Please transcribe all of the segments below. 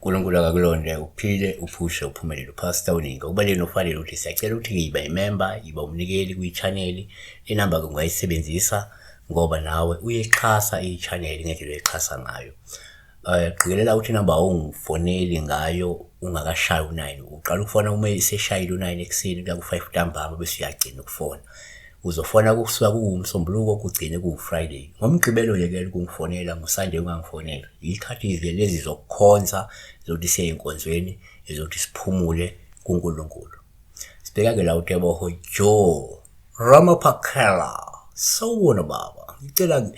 uNkulunkulu akakulonde uphile uphushe uphumelele uphasta uningi okubaleni ufanele ukuthi siyacela ukuthi ngiyiba imemba yiba umnikeli kwi-chaneli inamba-ke ungayisebenzisa ngoba nawe uyixhasa i-chaneli ngendlela oyixhasa ngayo Eh qikelela ukuthi number ongifoneli ngayo ungakashayi u9 uqala ukufona uma iseshayile u9 ekseni kuya ku5 ntambama bese uyagcina ukufona. Uzofona kusuka kuwumsombuluko kugcine kuwufriday. Ngomgqibelo yekela ukungifonela ngosunday ungangifoneli. Ikhathi lezi zokukhonza zokuthi siye enkonzweni ezokuthi siphumule kuNkulunkulu. Sibheka ke la uTeboho Joe Ramaphakela. Sawubona baba. Ngicela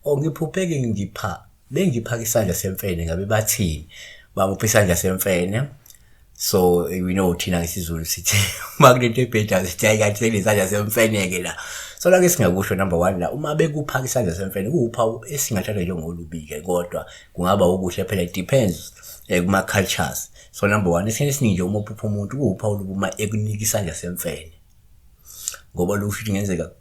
ongiphupheke ngipha bengiphaka isandla semfene ngabe bathini bamupha isandla semfene so we know thina ngesizulu sithi uma kunento ebhedayo sithi hayi kanti senesandla semfene-ke la so lake singakusho number one la uma bekuphaka isandla semfene kuwuphawu esingathathwa njengolubike kodwa kungaba ukuhle phela it depends um eh, kuma-cultures so number one esikhathi esiningi nje uma uphupha umuntu kuwuphawu lobuma ekunika isandla semfene ngoba lokhu ukuthi kungenzeka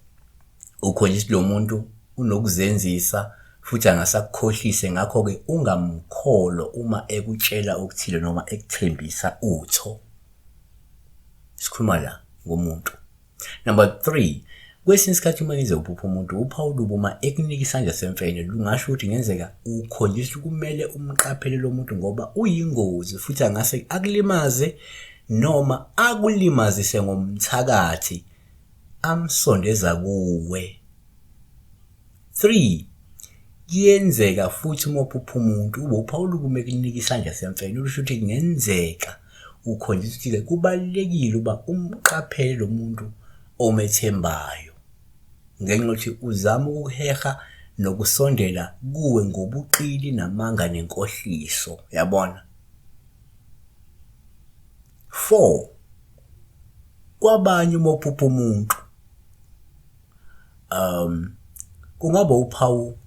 ukhonje ukuthi lo muntu unokuzenzisa futhi angasakukhohlise ngakho-ke ungamkholo uma ekutshela okuthile noma ekuthembisa utho sikhuluma la ngomuntu number three kwesinye isikhathi uma ngize uphupha umuntu uphawu lubo uma ekunika isandla semfene lungasho ukuthi ngenzeka ukholiswa kumele umqaphele lo muntu ngoba uyingozi futhi angase akulimaze noma akulimazise ngomthakathi amsondeza kuwe. 3 kuyenzeka futhi uma uphupha umuntu ube uphawula ukume ekunika isandla semfene okusho ukuthi kungenzeka ukhonjiswa ukuthi-ke kubalulekile uba umqaphele lo muntu omethembayo ngenxa yokuthi uzama ukuheha nokusondela kuwe ngobuqili namanga nenkohliso yabona 4 kwabanye uma uphupha umuntu um kungaba uphawu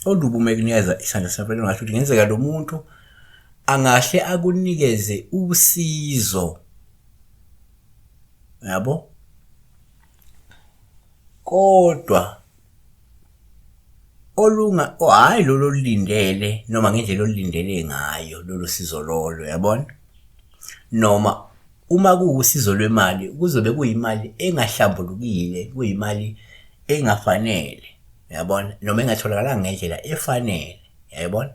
olubi uma ekunikeza isandla safanele ngasho ukuthi ngenzeka lo muntu angahle akunikeze usizo yabo kodwa olunga hhayi lolu olulindele noma ngendlela olulindele ngayo lolu sizo lolo yabona noma uma kuwusizo lwemali kuzobe kuyimali engahlambulukile kuyimali engafanele yabona noma engatholakalanga ngendlela efanele yayibona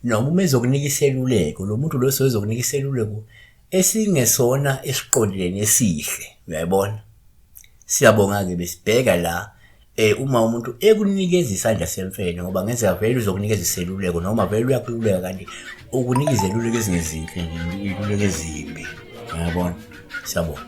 noma uma ezokunika iseluleko lo muntu lo sozokunika iseluleko esingesona esiqondileni esihle uyayibona siyabonga-ke besibheka la eh uma umuntu ekunikeza isandla semfene ngoba ngenzeka vele uzokunikeza iseluleko noma vele uyakhululeka kanti ukunika izeluleko ezingezinhle iluleko ezimbi uyabona siyabona